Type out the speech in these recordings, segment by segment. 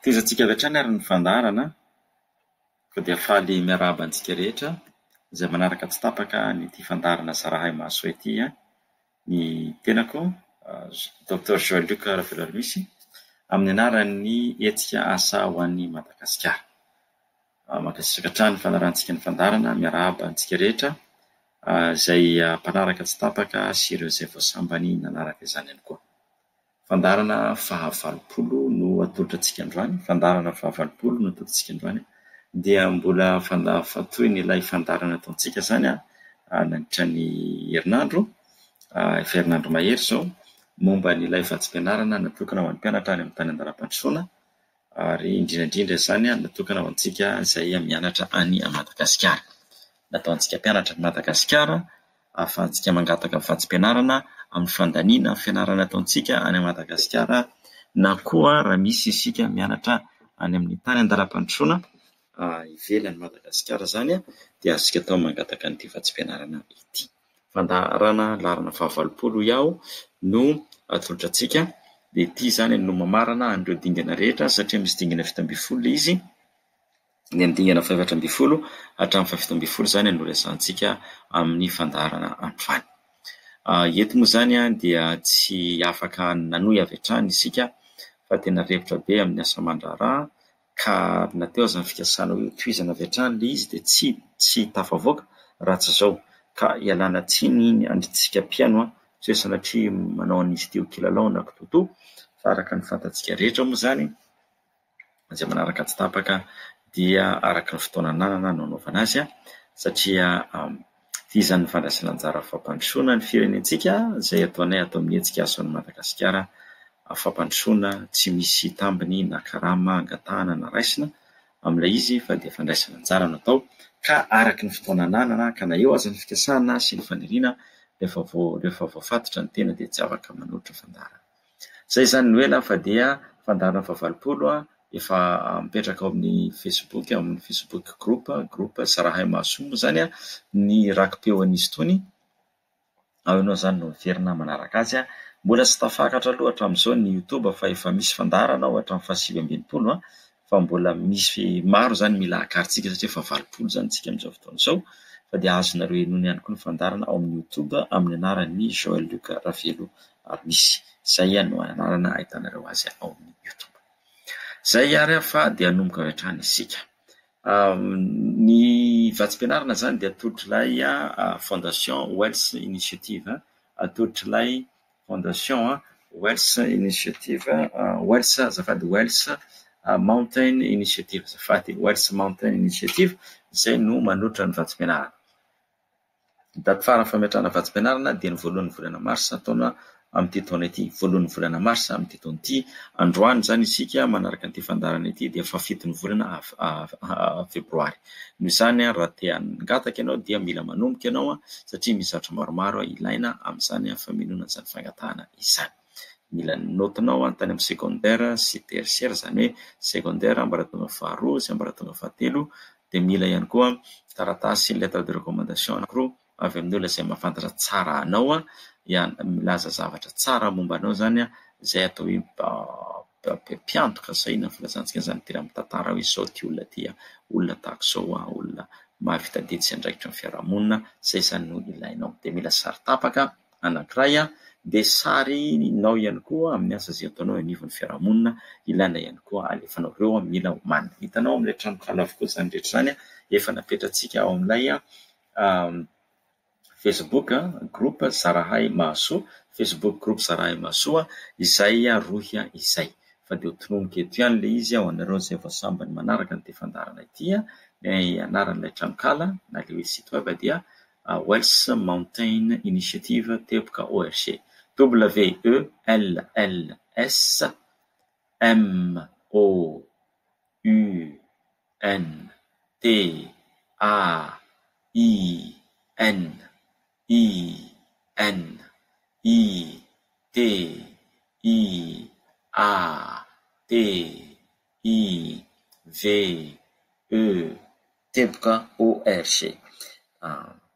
Tezatsika avy hatrany ary ny fandaharana ka dia faly miarahaba antsika rehetra izay manaraka tsy tapaka an'ity fandaharana Zarahay Mahasoa ity an! Ny tenako Docteur Joël Luc Ravelarimisy amin'ny anaran'ny hetsika Asa ho an'i Madagasikara. Mankasitraka hatrany ny fanarahantsika ny fandaharana, miarahaba antsika rehetra izay mpanaraka tsy tapaka sy ireo izay vao sambany nanaraka izany ihany koa. Fandaharana fahavalopolo no atolotra antsika androany, fandaharana fahavalopolo no atolotra antsika androany, dia mbola fandahafantohina ilay fandaharana ataontsika izany nandritra ny herinandro, efa herinandro mahery izao, momba an'ilay vatsim-pianarana natokana ho an'ny mpianatra any amin'ny tany an-dalam-pandrosoana, Ary indrindra indrindra izany natokana ho antsika izay mianatra any Madagasikara. Natao antsika mpianatra any Madagasikara ahafahantsika mangataka ny vatsim-pianarana amin'ny fandaniana ny fianarana ataontsika any Madagasikara na koa raha misy isika mianatra any amin'ny tany an-dalam-pandrosoana ivelan'i Madagasikara izany dia azontsika atao ny mangataka an'ity vatsim-pianarana ity. fandaharana laharana fahavalopolo hoy aho no atolotra antsika dia ity izany no mamarana an'ireo dingana rehetra satria misy dingana fito ambin'ny folo ilay izy, ny amin'ny dingana fahaefatra ambin'ny folo hatramin'ny fahafito ambin'ny folo izany no resahantsika amin'ny fandaharana androany. Eto moa izany dia tsy afaka nanohy avy hatrany isika fa tena repotra be amin'ny asa aman-draharaha ka na teo aza ny fikasana hoe hotohizana avy hatrany ilay izy dia tsy tsy tafavoaka raha tsy izao, ka ialana tsiny ny antsika mpihaino an, tsy hoe sanatria manao an'izy ity ho kilalao na kitoatoa, fa araka ny fantatsika rehetra moa izany izay manaraka tsy tapaka dia araka ny fotoana ananana no anaovana azy an, satria Vizan' ny fandraisan'anjara fampandrosoana ny firenentsika izay ataonay ato amin'ny hetsika Ason' i Madagasikara fampandrosoana tsy misy tambiny na karama angatahana na raisina amin'ilay izy fa dia fandraisana anjara no atao ka araka ny fotoana ananana ka na eo aza ny fikasana sy ny faniriana rehefa voafatotra ny tena dia tsy afaka manoatra fandaharana. Izay izany no ela fa dia fandaharana fahavalopolo efa mipetraka ao amin'ny facebook, ao amin'ny facebook group, group Zarahay Mahasoa moa izany ny raki-peo an'izy itony, ao ianao izany no miverina manaraka azy. Mbola tsy tafakatra aloha hatramin'izao ny youtube fa efa misy fandaharana ao hatramin'ny fahasivy amby enimpolo. fa mbola misy maro izany mila hakarintsika satria efa valopolo izany isika amin'izao fotoana izao, fa dia azonareo henoina ihany koa ny fandaharana ao amin'ny YouTube amin'ny anaran'ny Joël Luc Ravelo ary misy. Izay no anarana ahitanareo azy ao amin'ny YouTube. Izay ary fa dia hanomboka avy hatrany isika. Ny vatsim-pianarana izany dia atoritrilay Fondation Wells Initiative, atoritrilay Fondation Wells Initiative, Wells azafady, Wells Mountain Initiative azafady, Wells Mountain Initiative izay no manotra ny vatsim-pianarana. Ny daty farany fametrahana vatsim-pianarana dia ny voalohan'ny volana marsa taona amin'ity taona ity, voalohan'ny volana marsa amin'ity taona ity. Androany izany isika manaraka an'ity fandaharana ity dia faha fito ny volana febroary. Noho izany, raha te hangataka ianao dia mila manomboka ianao satria misy zavatra maromaro ilaina amin'izany famelona an'izany fangatahana izany. Mila ny naotinao tany amin'ny secondaire sy tertiaire, izany hoe secondaire ambaratonga faharoa sy ambaratonga fahatelo, dia mila ihany koa taratasy lettre de recommandation anankiroa. avy amin'ny olona izay mahafantatra tsara anao ihany, milaza zavatra tsara momba anao izany izay atao hoe mpiantoka izay na filazantsika izany dera amin'ny tantara hoe izao ity olona ity, olona tahaka izao, olona mahavita didy sy andraikitra amin'ny fiarahamonina, izay izany no ilainao. Dia mila sary tapaka anankiray dia sarinao ihany koa amin'ny asa izay ataonao eo anivon'ny fiarahamonina, ilaina ihany koa alefanao ireo mila ho marina. Hitanao amin'ilay tranonkala avokoa izany rehetra izany efa napetratsika ao amin'ilay. Facebook groupe Zarahay Mahasoa, Facebook groupe Zarahay Mahasoa, izay rohy izay. Fa dia ho tononiko eto ihany ilay izy ho anareo izay vao sambany manaraka ity fandaharana ity. Ny anaran'ilay tranonkala na ilay hoe site web dia Wells Mountain Initiative Teboka ORG, W-E-L-L-S-M-O-U. N, T, A, I, N, I, N, I, T, I, A, T, I, V, E, teboka ORG.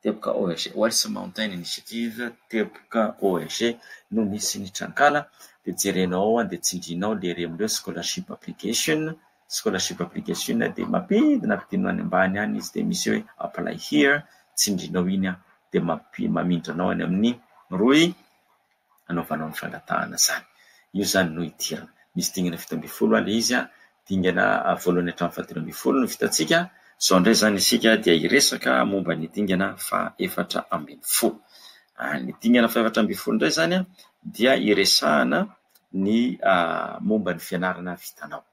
Teboka ORG Welsh Mountain Initiative, teboka ORG, no misy ny trankala, dia jerenao ao an, dia tsindrinao le rem reo scholarship application, scholarship application dia mampidina ampidinao any ambany any izy dia misy hoe apply here, tsindrinao iny an, dia mamindra anao any amin'ny rohy. anaovanao ny fangatahana izany. Io izany no idirana. Misy dingana fito ambin'ny folo ilay izy, dingana voalohany hatramin'ny fahatelo ambin'ny folo no vitantsika, izao indray izany isika dia hiresaka momba ny dingana fahefatra ambin'ny folo. Ny dingana fahefatra ambin'ny folo indray izany dia hiresahana ny momba ny fianarana vitanao.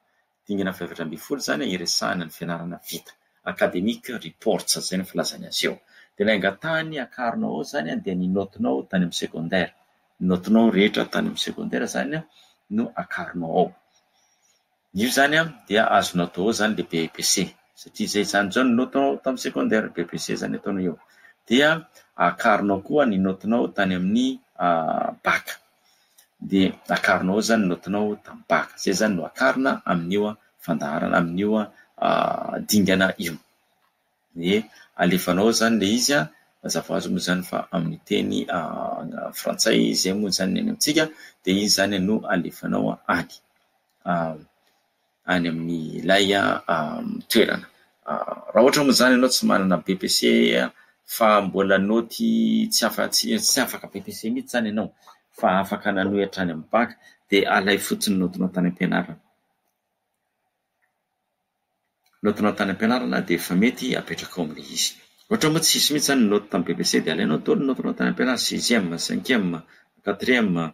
dingana fahaefatra ambin'ny folo izany hiresahana ny fianarana vita, academic reports izay no filazany azy eo. Dia ilay angatahiny hakarina ao izany dia ny naotinao tany amin'ny secondaire, ny naotinao rehetra tany amin'ny secondaire izany no akarinao ao. Io izany dia azonao atao ao izany ilay BEPC, satria izay izany izao ny naotinao tamin'ny secondaire, BEPC izany ataonao eo. Dia akarinao koa ny naotinao tany amin'ny bac. dia akarina ao izany ny naotinao tamim-paka. Izay izany no akarina amin'io fandaharana, amin'io dingana io. Dia alefanao ao izany ilay izy, mazava ho azy moa izany fa amin'ny teny frantsay izay moa izany ny any amintsika, dia izy izany no alefanao any. any amin'ilay toerana. Raha ohatra moa izany ianao tsy manana BEPC fa mbola naoty tsy afaka BEPC mihitsy izany ianao fa afaka nanohy hatrany amin'ny BAC dia alay fotsiny ny naotinao tany am-pianarana. Ny naotinao tany am-pianarana dia efa mety apetraka ao amin'ilay izy. Raha ohatra moa tsisy mihitsy izany ny naoty tamin'ny BEPC dia alainao daholo ny naotinao tany am-pianarana, sixième, cinquième, quatrième,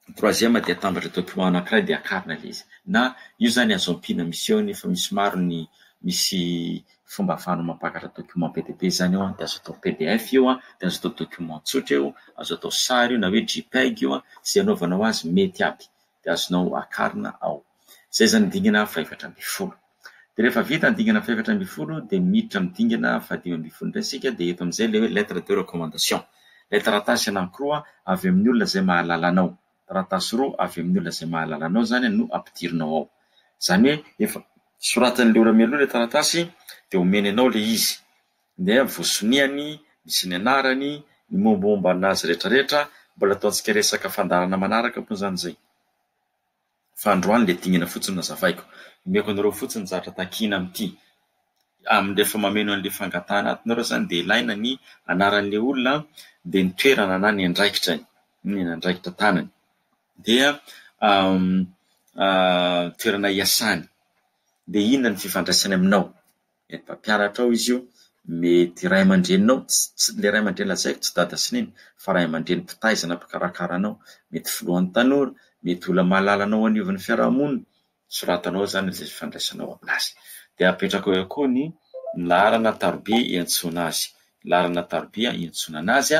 ny troisième dia atambatra atao trois anankiray dia akarina ilay izy na io zany azo ampiana misy eo nefa misy maro ny misy fomba afahanao mampakatra document be dia be zany eo dia azo atao pdf io an dia azo atao document tsotra io azo atao sary io na hoe jpeg io an ze anaovanao azy mety aby dia azonao akarina ao Izay izany ny dingana fahefatra ambin'ny folo. Dia rehefa vita ny dingana fahefatra ambin'ny folo dia miditra amin'ny dingana fahadimy ambin'ny folo indray isika dia eto amin'izay ilay hoe lettre de recommandation. Ilay taratasy anankiroa avy amin'ny olona izay mahalala anao. Taratasy roa avy amin'ny olona izay mahalala anao izany no ampidirinao ao. Izany hoe efa soratan'ilay ora mialoha ilay taratasy dia omeny anao ilay izy. Dia voasonihany, misy ny anarany, ny mombamomba an'azy rehetrarehetra, mbola ataontsika resaka fandaharana manaraka moa izany izay. Fa androany le dingana fotsiny nazavaiko. Omeko anareo fotsiny ny zavatra takiana amin'ity. Amin'ny rehefa mameno an'le fangatahana atinareo zany de ilaina ny anaran'le olona de ny toerana na ny andraikitrany, ny andraikitra tanany. Dia toerana iasany. De inona ny fifandraisany aminao. Ny mpampianatrao izy io, mety ray aman-dreninao, ilay ray aman-dreny lazaiko tsy dada sy neny fa ray aman-dreny mpitaizana mpikarakara anao, mety filohan'ny tanora, mety olona mahalala anao anivon'ny fiarahamonina, soratanao ao zany ilay fifandraisanao aminazy. De apetrakao eo koa ny laharana taroby iantsoana azy, laharana taroby iantsoana anazy,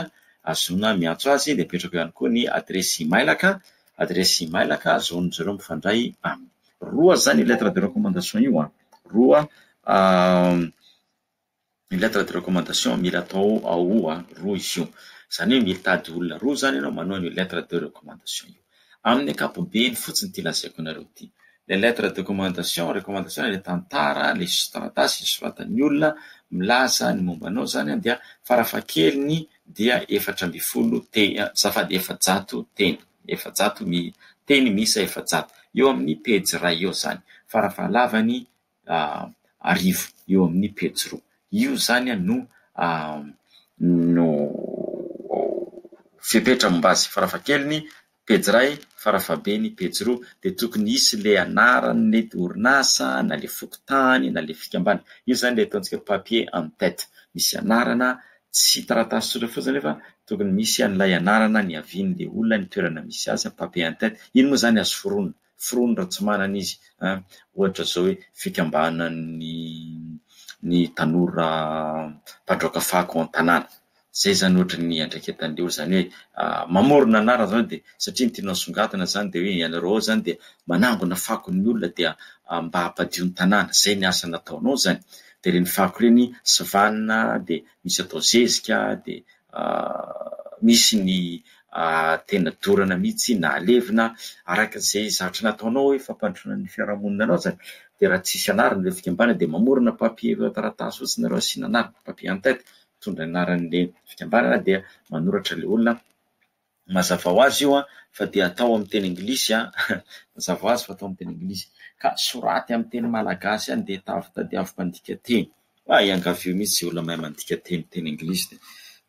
ahazoana miantso azy, de apetrakao ihany koa ny adiresy imailaka, adiresy imailaka ahazoan'izy ireo mifandray aminy. Roa zany lettre de recommandation io an! Roa, ny lettre de recommandation mila atao ao roa izy io, izany hoe mitady olona roa izany ianao manao an'io lettre de recommandation io. Amin'ny ankapobeny fotsiny ity lazaiko anareo ity, ilay lettre de recommandation, recommandation ilay tantara, ilay taratasy isoratan'ny olona milaza ny momba anao izany dia farafahakeliny dia efatra ambin'ny folo teny, azafady efajato teny. efajato ny teny miisa efajato eo amin'ny pejy iray eo izany, farafahalavany arivo eo amin'ny pejy roa. Io izany no no fepetra momba azy, farafahakeliny pejy iray, farafahabeny pejy roa, dia tokony hisy ilay anaran'ilay orinasa na ilay fokontany na ilay fikambanana, io izany ilay ataontsika hoe papier en tête, misy anarana tsy taratasy tsotra fotsiny nefa tokony misy an'ilay anarana niavian'ilay olona, ny toerana misy azy, papier en tête, iny moa izany azo foronina, foronina raha tsy manana izy an, ohatra izao hoe fikambanan'ny ny tanora mpandraoka fako ao an-tanàna, izay izany ohatra ny iandraiketan'ilay olona, izany hoe mamorona anarana izany dia satria ny tianao asongadina izany dia hoe ianareo ao izany dia manangona fako ny olona dia mba hampadio ny tanàna, izay ny asa nataonao izany, dia ireny fako ireny sivanina dia misy atao zezika dia misy ny tena dorana mihitsy na alevina araka izay zatra nataonao hoe fampandrosoana ny fiarahamonina anao izany dia raha tsisy anarana ireo fikambanana dia mamorona papier taratasy fotsiny nareo asiana anarana papier en tête mitondra ny anaran'ilay fikambanana dia manoratra ilay olona Mazava ho azy io fa dia atao amin'ny teny anglisy an! Mazava ho azy fa atao amin'ny teny anglisy ka soraty amin'ny teny malagasy any dia tavy tadiavo mpandika teny. Fa iangavio mihitsy izay olona mahay mandika teny teny anglisy dia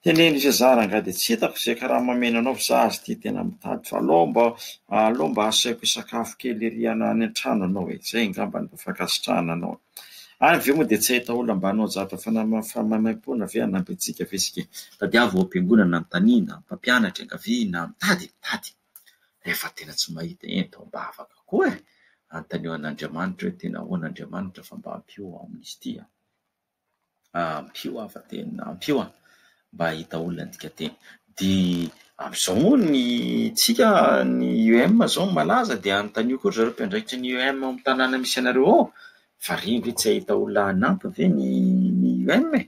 teneno izay za rangahy dia tsy hitako izay karama omena anao fa za aza ity tena mitady fa aleo mba aleo mba asaiko hisakafo kely ery any an-trano ianao e! Izay angamba no mba fankasitrahana anao e! Ary avy eo moa dia tsy hahita olona mba hanao zavatra fanampaham-panaimaipoana ve hanampy antsika ve isika? Tadiavo ao am-piangonana anontaniana, mpampianatra iangaviana, mitady, mitady. Rehefa tena tsy mahita, eny dia ao am-bavaka koa e! Anontanio an'Andriamanitra hoe tena ahoana Andriamanitra fa mba ampio aho amin'izy ity an! Ampio aho fa teny, ampio aho mba hahita olona nidika teny. Dia amin'izao moa ny tsika ny IEM izao no malaza dia anontanio koa ry zareo mpiandraikitra ny IEM ao amin'ny tanàna misy anareo ao fa re ve tsy hahita olona hanampy ve ny ny IEM e?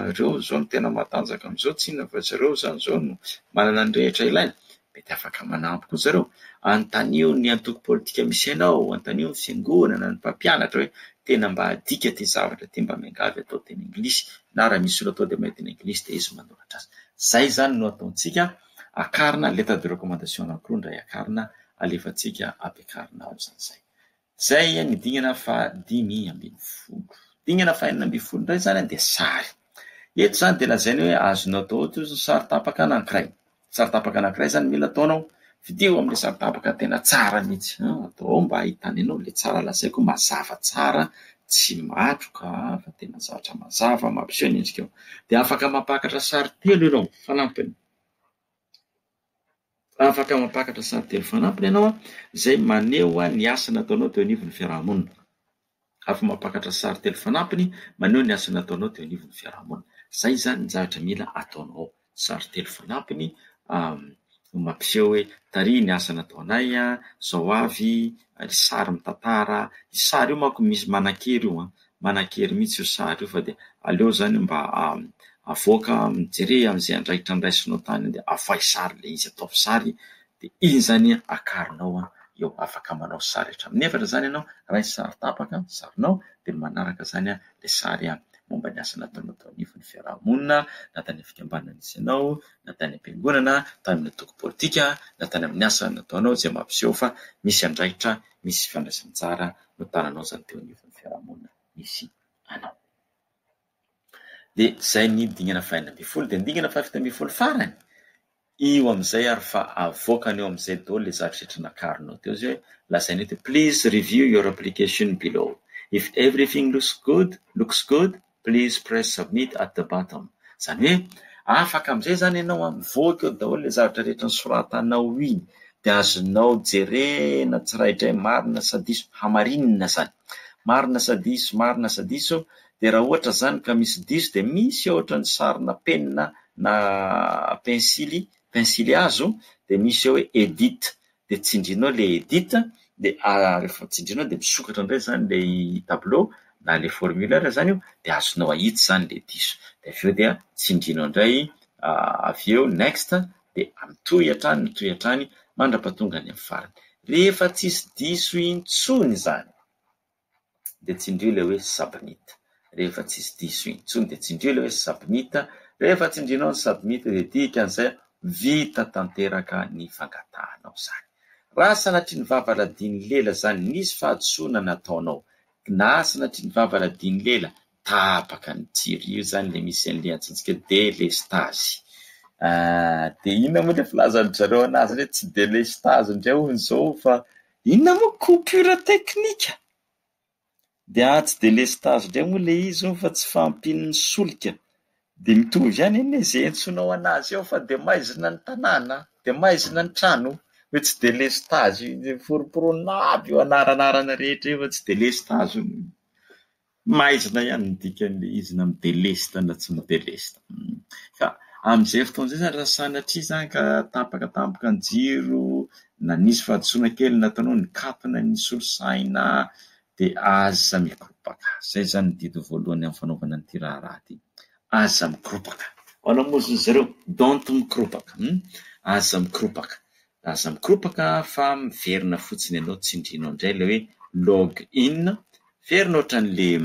Ireo izao no tena matanjaka amin'izao, tsinona fa ry zareo izany izao no manana ny rehetra ilaina. Mety afaka manampy koa zareo. Anontanio ny antoko politika misy anao, anontanio ny fiangonana, ny mpampianatra hoe tena mba adika ity zavatra ity mba miangavy atao teny anglisy na raha misy olona atao dia mba teny anglisy dia izy manoratra azy. Izay izany no ataontsika, akarina lettre de recommandation anankiroa indray akarina alefantsika ampiakarina ao izany izay. Izay ny dingana fahadimy ambin'ny folo. Dingana fahenina ambin'ny folo indray izany dia sary. Eto izany dia lazaina hoe azonao atao ohatra izao sary tapaka anankiray. Sary tapaka anankiray izany mila ataonao. Fidio amin'ilay sary tapaka tena tsara mihitsy. Atao ao mba hahitana anao ilay tsara lazaiko mazava tsara, tsy matroka fa tena zavatra mazava mampiseho ny endrikao. Dia afaka mampakatra sary telo ianao fanampiny. Raha afaka mampakatra sary telo fanampiny ianao izay maneho ny asa nataonao teo anivon'ny fiaraha-monina. Afaka mampakatra sary telo fanampiny maneho ny asa nataonao teo anivon'ny fiaraha-monina. Izay izany ny zavatra mila ataonao, sary telo fanampiny mampiseho hoe taria ny asa nataonay, izao avy ny sary mitantara, io sary io manko misy manan-kery io an! manan-kery mihitsy io sary io fa dia aleo izany mba avoaka jereo amin'izay andraikitra andraisinao tany dia avoahy sary ilay izy ataovy sary dia iny izany akarinao an eo afaka manao sary hatramin'ny efatra izany ianao raha ny sary tapaka ny sarinao dia ny manaraka izany an ilay sary an momba ny asa nataonao tao anivon'ny fiarahamonina na tany amin'ny fikambanana nisy anao na tany am-piangonana tany amin'ny antoko politika na tany amin'ny asa nataonao izay mampiseho fa misy andraikitra misy fifandraisan'ny tsara no tananao izany teo anivon'ny fiarahamonina misy anao. Dia izay ny dingana fahenina ambin'ny folo, dia ny dingana fahafito ambin'ny folo farany, io amin'izay ary fa avoakany eo amin'izay daholo ilay zavatra rehetra nakaronao teo izay hoe lazainy hoe please review your application below if everything looks good looks good please press submit at the bottom izany hoe afaka amin'izay izany ianao an, mivoaka eo daholo ilay zavatra rehetra nosoratanao iny dia azonao jerena tsiraidray marina sa diso, hamarinina izany, marina sa diso, marina sa diso, dia raha ohatra izany ka misy diso dia misy ohatra ny sarina penina na pensily, pensily hazo dia misy eo hoe edit dia tsindrinao ilay edit dia rehefa tsindrinao dia misokatra indray izany ilay tableau na ilay formulaire izany io dia azonao ahitsy izany ilay diso dia avy eo dia tsindrinao indray avy eo next dia mitohy hatrany mitohy hatrany mandrapatonga any amin'ny farany rehefa tsisy diso intsony izany dia tsindrio ilay hoe submit rehefa tsisy diso intsony dia tsindrio ilay hoe submit rehefa tsindrinao ny submit dia dikan'izay vita tanteraka ny fangatahanao izany raha sanatria ny vava radian'ny lela izany nisy fahadisoana nataonao na sanatria ny vava radian'ny lela tapaka ny jiro io zany le misy an'le antsointsika hoe délestage ah, de inona moa le filazan-dry zareo anazy hoe tsy délestage indray hono zao fa inona moa coupure technique de ah tsy délestage indray moa le izy hono fa tsy fahampian'ny solika de mitovy ihany anie ze antsoinao anazy eo fa de maizina ny tanàna de maizina ny trano hoe tsy délestage io, foromporonina aby io anaranarana rehetra io fa tsy délestage hono. Maizina ihany ny dikan'ilay izy na midelesta na tsy midelesta. Ka amin'izay fotoana izay izany raha sanatria izany ka tapaka tampoka ny jiro na nisy fahadisoana kely nataonao nikatona ny solosaina dia aza mikoropaka. Izay izany ny didy voalohany amin'ny fanaovana an'ity raharaha ity. Aza mikoropaka. Ho anao moa hoy izy ireo, don't mikoropaka. Aza mikoropaka. Aza mikoropaka fa miverina fotsiny ianao tsindrinao indray ilay hoe log in, miverina ohatran'ilay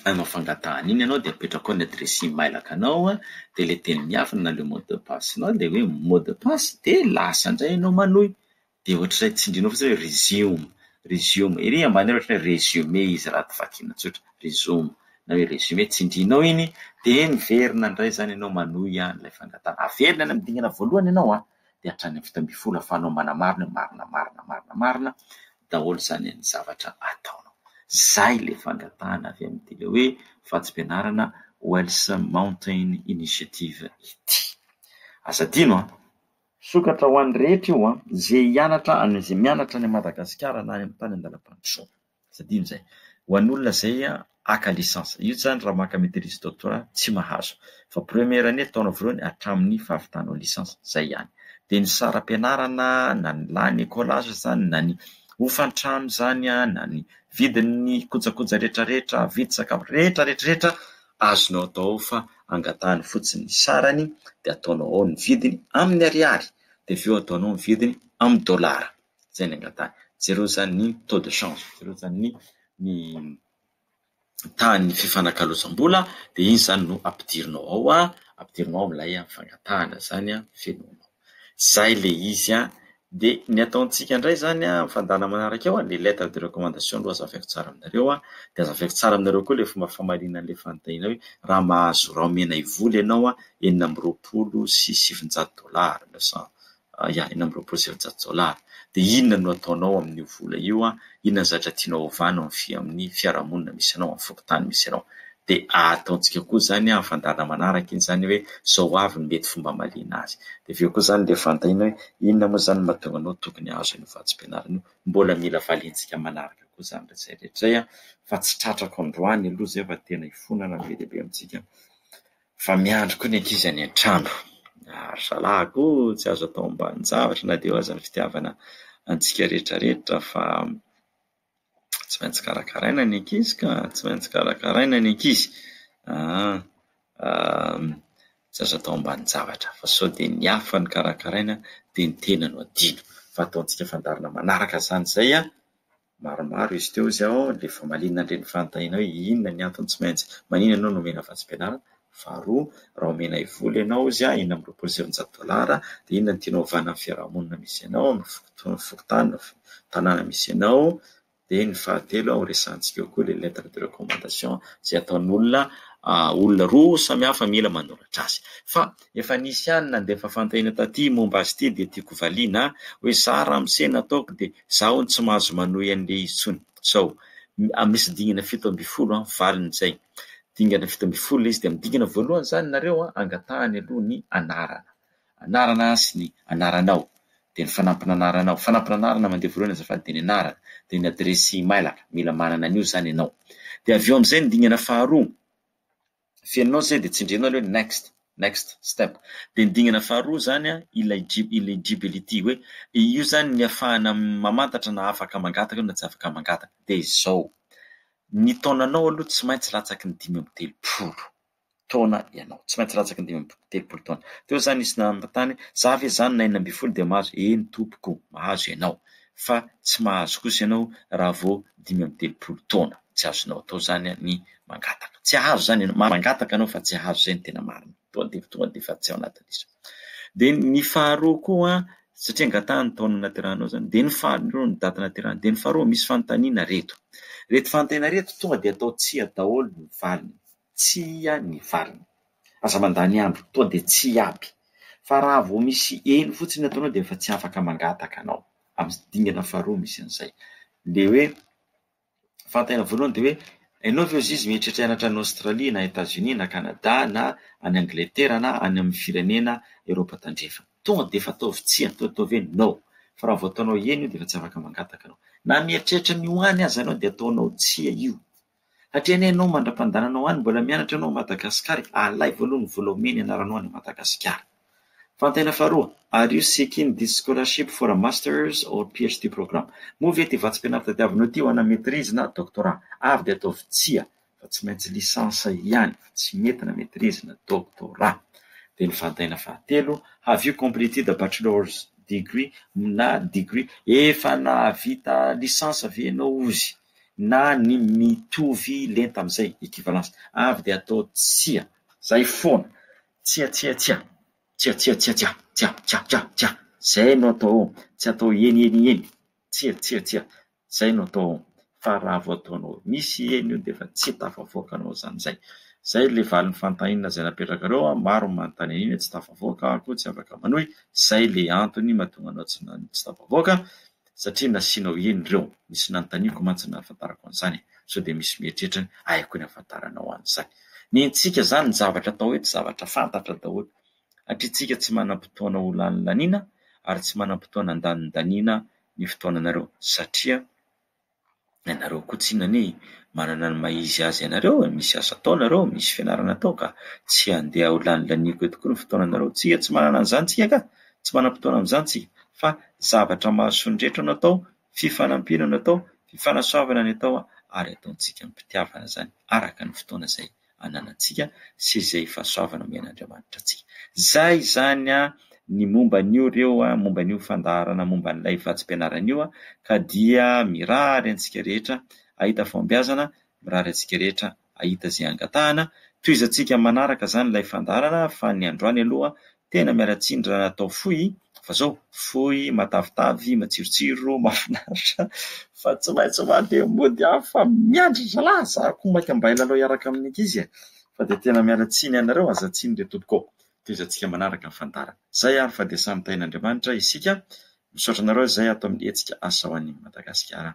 hanao fangatahana iny ianao dia apetrako ao ny adiresy e-mailaka anao dia ilay teny miafina na ilay mot de passe nao dia hoe mot de passe dia lasa indray ianao manohy dia ohatr'izay tsindrinao fotsiny hoe resume, resume, ery ambany ery ohatran'ny hoe résumé izy raha vakiana tsotra, resume na hoe résumé, tsindrinao iny dia miverina indray izany ianao manohy ilay fangatahana, averina any amin'ny dingana voalohany ianao an! dia hatrany amin'ny fito ambin'ny folo ahafahanao manamaro ny hoe marina marina marina marina daholo izany ny zavatra ataonao. Izay ilay fangatahana avy amin'ity ilay hoe vatsim-pianarana Wells Mountain Initiative ity. Aza adino an! Misokatra ho an'ny rehetra io an! Izay hianatra any, izay mianatra any Madagasikara na any amin'ny tany an-dalam-pandrosoana. Tsy adino izay. Ho an'olona izay haka licence. Io zany raha maka maitrise doctorat tsy mahazo. Fa première année ataonao voalohany hatramin'ny fahavitanao licence. Izay ihany. Dia ny saram-pianarana na ny lany écolage izany na ny hofan-trano izany na ny vidin'ny kojakoja rehetra rehetra, vidy sakafo rehetra rehetra rehetra azonao atao ao fa angatahany fotsiny ny sarany dia ataonao ao ny vidiny amin'ny ariary dia avy eo ataonao ny vidiny amin'ny dollars. Zay ny angataha. Jereo zany ny taux de change, jereo zany ny ny tahan'ny fifanakalozam-bola de iny zany no ampidirinao ao a, ampidirinao amin'ilay fangatahana zany a, fenoinao. Zay le izy a, de ny ataontsika ndray zany a, am fandaharana manaraka eo a, le lettre de recommandation aloha azavaiko tsara aminareo a, de azavaiko tsara aminareo koa le fomba famarina an'le fanontaniana hoe raha mahazo raha omena hivola ianao a, enina amby roapolo sy sivinjato dollars, neuf cent Yah, enina amby roapolo sy efajato dollars. Dia inona no ataonao amin'io vola io an? Inona ny zavatra tianao hovana amin'ny fi- amin'ny fiarahamonina misy anao, amin'ny fokontany misy anao? Dia ataontsika koa izany amin'ny fandaharana manaraka iny izany hoe izao avy no mety fomba hamaliana azy. Dia avy eo koa izany dia fantaina hoe inona moa izany no mahatonga anao tokony hahazo an'io vatsim-pianarana io. Mbola mila valiantsika manaraka koa izany rehetra izay rehetra izay an, fa tsy tratrako androany aloha izay fa tena hifonana be dia be amintsika. Fa miandry koa ny ankizy any an-trano. Ry zalahy ko tsy azo atao ambanin-javatra na dia eo aza ny fitiavana antsika rehetra rehetra fa tsy maintsy karakaraina ny ankizy ka, tsy maintsy karakaraina ny ankizy an, tsy azo atao ambanin-javatra fa sao dia ny hafa no karakaraina dia ny tena no adino fa ataontsika fandaharana manaraka izany izay an! maromaro izy teo izay ao dia famaliana an'ireny fanontaniana hoe inona ny antony tsy maintsy, manina ianao no omena vatsim-pianarana? faharoa raha omena hivoly ianao izy a enina amby roapolo sy efajato dolara dia inona no tianao hovana amin'ny fiarahamonina misy anao, amin'ny fokontany na tanàna misy anao, dia ny fahatelo ho resahantsika eo koa ilay lettre de recommandation izay ataon'olona olona roa samy hafa mila manoratra azy, fa efa nisy ihany nandefa fanontaniana taty momba azy ity dia tiako hovaliana hoe za ramose nataoko dia Za hono tsy mahazo manohy an'le izy tsony sao misy dingana fito ambin'ny folo an, valiny zay. Dingana fito ambin'ny folo le izy de amin'ny dingana voalohany zany nareo an angatahany aloha ny anarana, anarana sy ny anaranao, de ny fanampin'anaranao, fanampin'anarana mandeha voalohany azafady de ny anarana, de ny adiresy mailaka, mila manana an'io zany ianao. De avy eo am'zay ny dingana faharoa, Fenonao izay dia tsindrianao ilay hoe next, next step. Dia ny dingana faharoa izany an, eligibility, hoe io izany ny afahana mamantatra na afaka mangataka io na tsy afaka mangataka. Dia izao, ny taonanao aloha tsy maintsy latsaky ny dimy amby telopolo taona ianao, tsy maintsy latsaky ny dimy amby telopolo taona. Teo izany nisy nanontany hoe za ve izany na enina ambin'ny folo dia mahazo? Eny tompoko, mahazo ianao fa tsy mahazo kosa ianao raha vao dimy amby telopolo taona, tsy azonao atao izany ny mangataka tsy ahazo zany ianao, mangataka anao fa tsy ahazo zay ny tena marina, tonga de tonga de efa tsy ao anatin'izy. De ny faharoa koa satria angataha ny taona naterahanao zany, de ny faharoa ny date naterahany, de ny faharoa misy fanontaniana reto, reto fanontaniana reto tonga de atao tsia daholo ny valiny, tsia ny valiny, aza mandany andro, tonga de tsia aby, fa raha vao misy eny fotsiny ataonao de efa tsy afaka mangataka anao, amin'ny dingana faharoa misy an'izay, le hoe. fantany voalohany dia hoe ianao ve ozizy mieritreritra hianatra any Aostralia na Etats Unis na Canada na any Angletera na any amin'ny firenena Eoropa tandrefana. Tonga dia efa ataovy tsia, ataovy hoe no. Fa raha vao ataonao eny io dia efa tsy afaka mangataka anao. Na mieritreritra ny ho any aza ianao dia ataonao tsia io. Satria anie ianao mandra-pandehananao any mbola mianatra ianao ao Madagasikara e, alaivo aloha ny vola omeny hianaranao any Madagasikara. Fantena faharoa, Are you seeking this scholarship for a Masters or PhD program? Moa ve ity vatsim-pianarana tadiavinao ity ho ana maîtrise na doctorat? Ary dia ataovy tsia fa tsy maintsy licence ihany fa tsy mety na maîtrise na doctorat. Dia ny fantena fahatelo, Have you completed a bachelor's degree na degree? Efa nahavita licence ve ianao ozy na ny mitovy lenta amin'izay, équivalence? Ary dia atao tsia. Izay foana. Tsia tsia tsia. Tsia tsia tsia tsia. Tsia tsia tsia tsia. Zay no atao ô. Tsy atao eny eny eny. Tsia tsia tsia. Zay no atao ô. Fa raha vao ataonao misy eny io dia efa tsy tafavoaka anao zany zay. Zay ilay valin'ny fantahinana izay napetrakareo an, maro ny manontany an'iny hoe tsy tafavoaka aho koa tsy afaka manohy, zay ilay antony mahatonga anao tsy tafavoaka, satria nasianao eny ireo, nisy nanontaniako mantsy ny nahafantarako an'izany e, sao dia misy mieritreritra ahy koa ny hahafantaranao an'izany. Ny antsika izany ny zavatra atao eto zavatra fantatra daholo, satria tsika tsy manam-potoana ho lanilaniana ary tsy manam-potoana handanindaniana ny fotoananareo, satria. Ianareo koa tsinona anie manana ny maha izy azy anareo e, misy asa atao nareo, misy fianarana atao ka, tsy handeha ho lanilaniako eto koa ny fotoananareo, tsika tsy manana an'izany tsika ka, tsy manam-potoana amin'izany tsika, fa zavatra mahasoa ny rehetra no atao, fifanampiana no atao, fifanasoavana ny atao ary ataontsika amim-pitiavana izany araka ny fotoana izay ananantsika sy izay fahasoavana omen'Andriamanitra antsika. Zay izany an ny momba an'io reo an, momba an'io fandaharana momba an'ilay vatsim-pianarana io an, ka dia mirary antsika rehetra ahita fahombiazana, mirary antsika rehetra ahita izay angatahana, tohizantsika manaraka izany ilay fandaharana fa ny androany aloha Tena miala tsiny raha atao fohy fa zao fohy matavitavy matsirotsiro mafinaritra fa tsy maintsy mandeha mody aho fa miandry zalahy za ko maika mba hilalao hiaraka amin'ny ankizy e! fa dia tena miala tsiny anareo aza tsiny re tompoko ô! tohizantsika manaraka ny fandaharana zay ary fa dia samy tahin'Andriamanitra isika misaotra anareo izay ato amin'ny hetsika asa ho an'i Madagasikara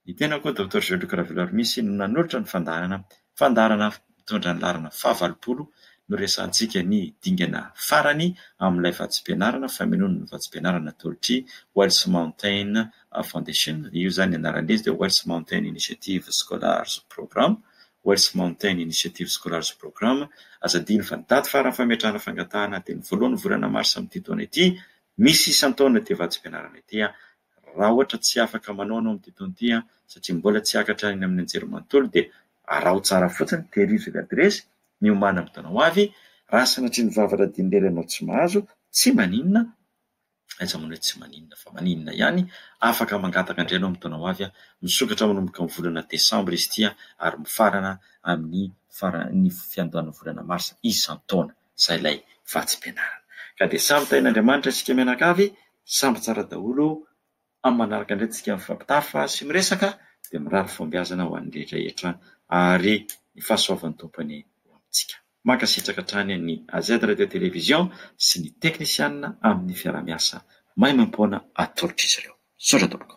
ny tenako Docteur Jean Luc Raveloarimisy no nanolotra ny fandaharana Fandaharana mitondra ny laharana fahavalopolo no resahantsika ny dingana farany amin'ilay vatsim-pianarana famenoana ny vatsim-pianarana atolotry Wells Mountain Foundation. Io izany ny anaran'izy dia Wells Mountain Initiative Scholars Program, Wells Mountain Initiative Scholars Program. Aza adino fa ny daty farany fametrahana fangatahana dia ny voalohan'ny volana marsa amin'ity taona ity. Misy isan-taona ity vatsim-pianarana ity. raha ohatra tsy afaka manao anao amin'ity taona ity an, satria mbola tsy hiakatra any amin'ny anjery manontolo dia araho tsara fotsiny, terizo ilay adiresy, miomàna amin'ny taona ho avy, raha sanatria ny vava radian'i lery ianao tsy mahazo, tsy maninona, aiza moa ny hoe tsy maninona fa maninona ihany, afaka mangataka indray ianao amin'ny taona ho avy, misokatra manomboka ny volana desambra izy ity ary mifarana amin'ny faran'ny fiandohan'ny volana marsa isan-taona. izay ilay vatsim-pianarana. Ka dia samy tahin'Andriamanitra isika mianakavy, samy tsara daholo, amin'ny manaraka indray tsika mifampitafa sy miresaka, dia mirary fahombiazana ho an'ny rehetra rehetra ary ny fahasoavan'ny Tompony ho amintsika. Mankasitraka hatrany ny AZ Radio Télévision sy ny teknisianina amin'ny fiaraha-miasa maimaimpoana atolotr'izy ireo. Misaotra tompoko.